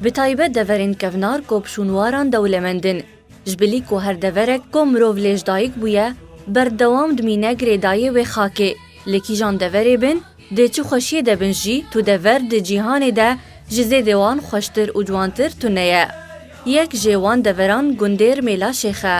Bi taybet deverên kevnar ku bi şûnwaran dewlemend in. Ji bilî ku her deverek ku mirov lê ji dayik bûye, berdewam dimîne girêdayê wê xakê. Li kîjan deverê bin, di çi xweşiyê de bin jî, tu dever di cîhanê de ji zêdê wan xweştir û ciwantir tune ye. Yek jê wan deveran gundêr Mêla Şêx e.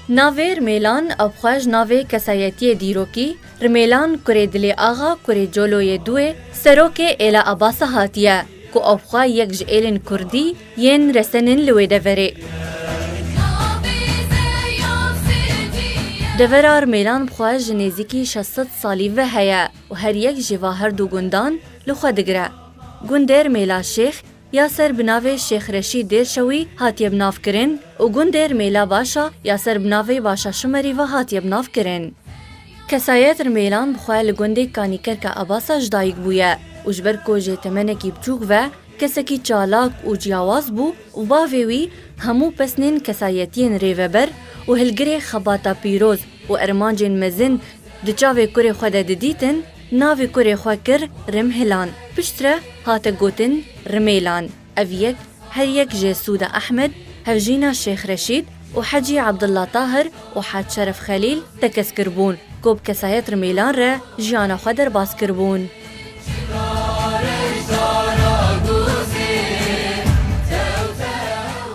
Navêr mêlan, ew xwe ji navê kesayetiyê dîrokî, Rimêlan kurê Dilê Axa kurê Coloyê Duê serokê Êla Abasa hatiye ku avxwe yek ji êlên kurdî yên resenên li wê deverê. Devera Rimêlan bi xwe ji nêzîkî şeş sed salî ve heye û her yek ji va her du gundan li xwe digire. Gundê Rimêla Şêx, ya ser bi navê Şêx Reşîd Dêrşewî hatiye bi nav kirin û gundê Rmêla Başa ya ser bi navê Başa Şimerî ve hatiye bi nav kirin. Kesayet Rmêlan bi xwe li gundê Kanîkerka Abasa ji dayik bûye û ji ber ku jê temenekî biçûk ve kesekî çalak û ciyawaz bû û bavê wî hemû pesnên kesayetiyên rêveber û hilgirê xebata pîroz û ermancên mezin di çavê kurê xwe de didîtin, Navê kurê xwe kir Rimhilan. Piştre hate gotin Rimêlan. Ev yek her yek jê Sûda Ehmed, Hevjîna Şêx Reşîd û Hecî Abdullah Tahir û Hac Şeref Xelîl tekez kiribûn ku bi kesayet Rimêlan re jiyana xwe derbas kiribûn.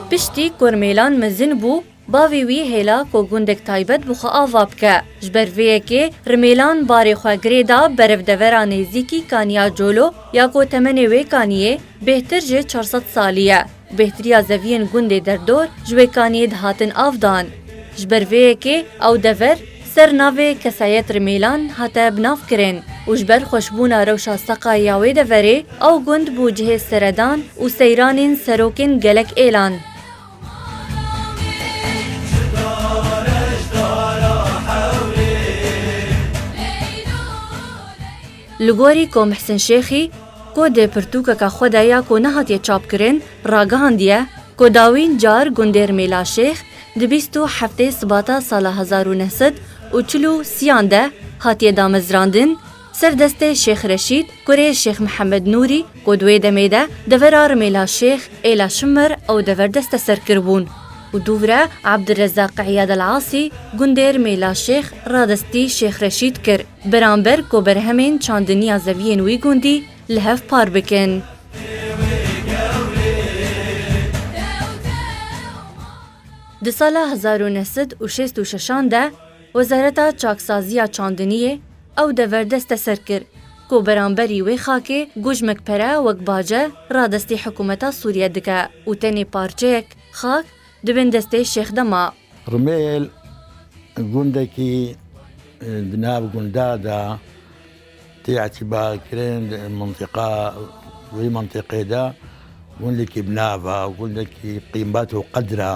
Piştî ku Rimêlan mezin bû Bavê wî hêla ku gundek taybet bi xwe ava bike. Ji ber vê yekê Rimêlan barê xwe girê da berevdevera nêzîkî Kaniya Colo ya ku temenê wê kaniyê bêhtir ji çar sed salî ye. Bêhtiriya zeviyên gundê derdor ji wê kaniyê dihatin av dan. Ji ber vê yekê ew dever ser navê Kesayet Rimêlan hate bi nav kirin û ji ber xweşbûna rewşa seqayê ya wê deverê ew gund bû cihê seredan û seyranên serokên gelek êlan. Li gorî ku Mihsin Şêxî ku di pirtûkeke xwe de ya ku nehatiye çapkirin ragihandiye ku dawîn car gundêr Mêlaşêx di bîst û heftê Sibata sala hezar û neh sed û çil û sî yan de hatiye damezrandin, Serdestê Şêx Reşîd, kurê Şêx Mihemed Nûrî ku di wê demê de devera Rimêla Şêx, Êla Şimir ew dever desteser kiribûn û dûvre Abdurrezzaq Îyad El Asî gundê Rimêla Şêx radestî Şêx Reşîd kir beramber ku berhemên çandiniya zeviyên wî gundî li hev par bikin. Di sala hezar û neh sed û şêst û şeşan de Wezareta Çaksaziya Çandiniyê, Ew dever deste ser kir ku beramberî wê xakê gojmek pere wek bace radestî hikûmeta Sûriye dike û tenê parçeyek xak di bin destê Şêx de ma. Rumêl gundekî di nav gunda de tê etîbarkirin di mintiqa wê mintiqê de gundekî bi nav e, gundekî qîmet û qedr e.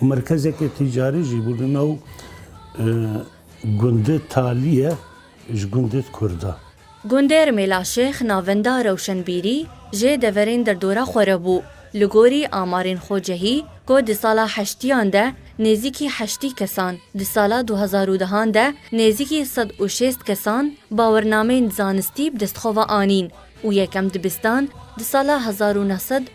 û merkezeke tîcarî jî bû li nav gundê Talîye ji gundê Kurda. Gundê Rmêla Şêx navenda rewşenbîrî jê deverên derdora xwe re bû. Li gorî amarên xwe cehî ku di sala heştîyan de nêzîkî heştî kesan, di sala du hezar û dehan de nêzîkî sed û şêst kesan bawernameyên zanistî bi destxwe ve anîn û yekem dibistan di sala hezar û neh sed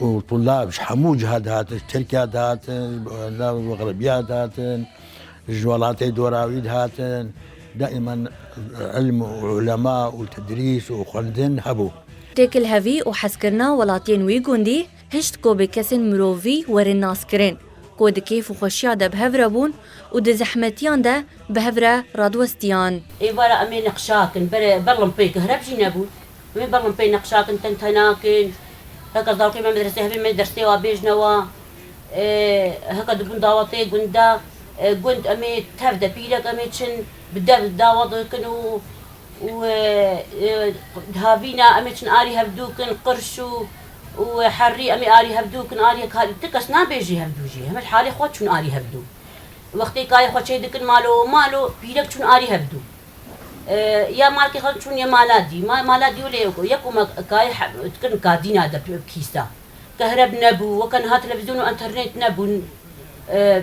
û tulab ji hemû ciha dihatin, ji Tirkiya dihatin, ji Xerbiya dihatin, ji welatê dorawî dihatin, daiman ilm û ulema û tedrîs û xwendin hebû. Têkilhevî û hezkirina welatiyên wî gundî hişt ku bi kesên mirovî werin naskirin ku di kêf û xweşiya de bi hev re bûn û di zehmetiyan de bi hev re radiwestiyan. Êvar a em ê neqşakin, berê berlimpêyeke hereb jî nebûn. Min bang in pey neqşa kin ten tena kin. Heka zarokên me medresê hebin me ders tê wa bêjne wa. Heka dibûn dawatê gunda gund emê tev de pîrek emê çin bi dev dawat kin û û dihavîna emê çin arî hevdû kin qirş û û herrî emê arî hevdû kin arî ka ti kes nabêjî hevdû jî heme li halê xwe çûn arî hevdû. Wextê kayê xwe çêdikin malo malo pîrek çûn arî hevdû. Ya malkê xwe çûn yê mala dî. Ma mala dî û lê eko. Yeko ma kayê dikin kadîna de kîsta. Kehreb nebû, weke niha televîzyon û enternêt nebûn.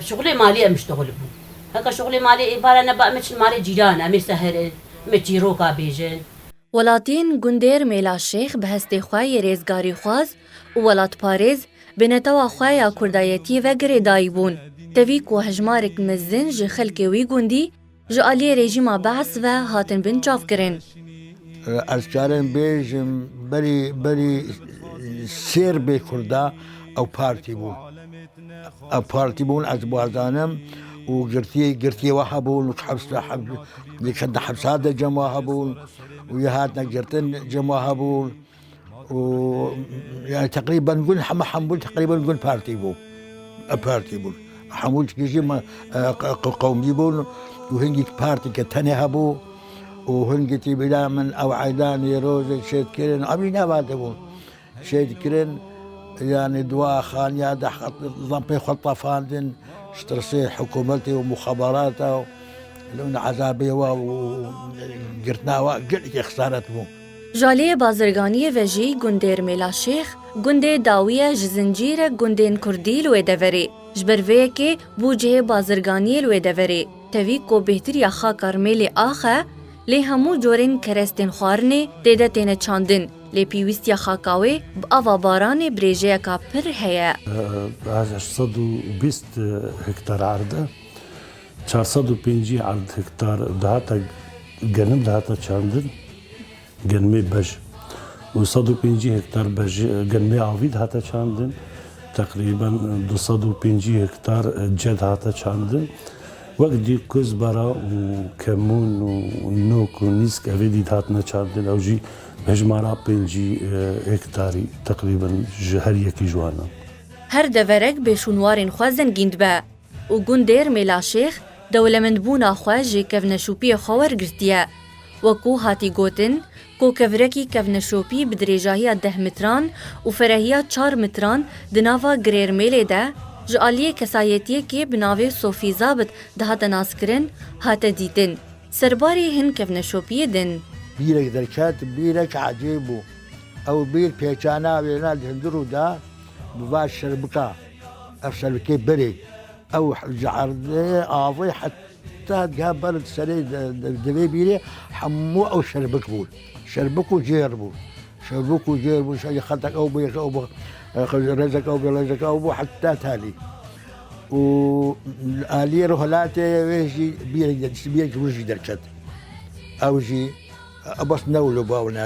Şixulê malê em iştixul bûn. Heke şixulê malê ê bara neba em ê çin malê cîran em ê seherin, em ê çîroka bêjin. Welatiyên gundêr Mêlaşêx bi hestê xwe yê rêzgarîxwaz û welatparêz bi netewa xwe ya kurdayetiyê ve girêdayî bûn. Tevî ku hejmarek mezin ji xelkê wî gundî, Ji aliyê rejîma Be'ss ve hatin binçavkirin. Ez çarên bêjim berî berî sêr bê Kurda ew partî bûn. Ew partî bûn ez bazanim û girtî girtî we hebûn û hepsa hep li hepsa de cem we hebûn û yê hatine girtin cem we hebûn. û yani teqrîben gund heme hembûn teqrîben gund partî bû partî bûn hemû tiştî jî me qewmî bûn û hingî partîke tenê hebû û hingî tî bila min ew eydanê rojê şêt kirin em jî nava dibûn şêt kirin yani dua xaniya de zampê xwe tefandin stresê hikûmetê û mixeberata û li min ezabê wa û girtina wa gelekî xesaret bû. Jalê bazirganiyê ve jî gundêr Mêlaşêx, gundê Dawiye ji zincîr e gundên kurdî li wê deverê. Ji ber vê yekê bû cihê bazirganiyê li wê deverê. Tevî ku bêhtiriya xaka Rmêlê ax e lê hemû corên kerestên xwarinê tê de têne çandin lê pîwîstiya xaka wê bi ava baranê bi rêjeyeka pir heye. Bi hezar sed û bîst hektar erde Çar sed û pêncî erd hektar dihate genim dihate çandin, genimê bej û sed û pêncî hektar bej genimê avî dihate çandin. Teqrîben du sed û pêncî hektar ce dihate çandin. Wek dî kuzbara û kemûn û nok û nîsk evê dî dihatine çandin. Ew jî bi hejmara pêncî hektarî teqrîben ji her yekî ji wan e. Her deverek bêşûnwarên xwe zengîn dibe. û gundêr Mêlaşêx dewlemendbûna xwe ji kevneşopiyê xwe wergirtiye. Wekû hatî gotin, kokevirekî kevneşopî bi dirêjahiya deh mitran û ferehiya çar mitran di nava Girêrmêlê de ji aliyê kesayetiyekê bi navê Sofî Zabit dihate naskirin, hate dîtin. Serbarê hin kevneşopiyê din. Bîrek derket, bîrek ecêb bû. Ew bîr pêçana wêna li hundirû de bi va şerbika. Ev şerikê berê ew ji erdê avê heta geha ber di serê divê bîrê hemû ew şerbik bûn. Şerbik û cêr bûn. Şerbik û cêr bûn şerî xetek ew bû ew bû rêzek ew bû rêzek ew bû heta talî. û aliyê ro helatê wê jî bîrek bîrek win jî derket. Ew jî bas newlo bawne.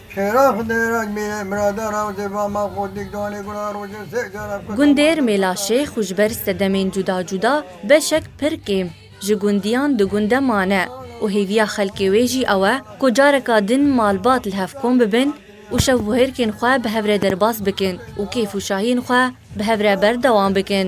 Çêrax Dêrac Mîrê Birada Rawzê Vama Godik Danê Gula Rojê Sêk Cara Kuta Gundêr Mêlaşêx û ji ber sedemên cuda cuda beşek pir kêm ji gundiyan di gunde mane û hêviya xelkê wê jî ew e ku careka din malbat li hev kom bibin û şevbûhêrkên xwe bi hev re derbas bikin û kêf û şahiyên xwe bi hev re berdewam bikin.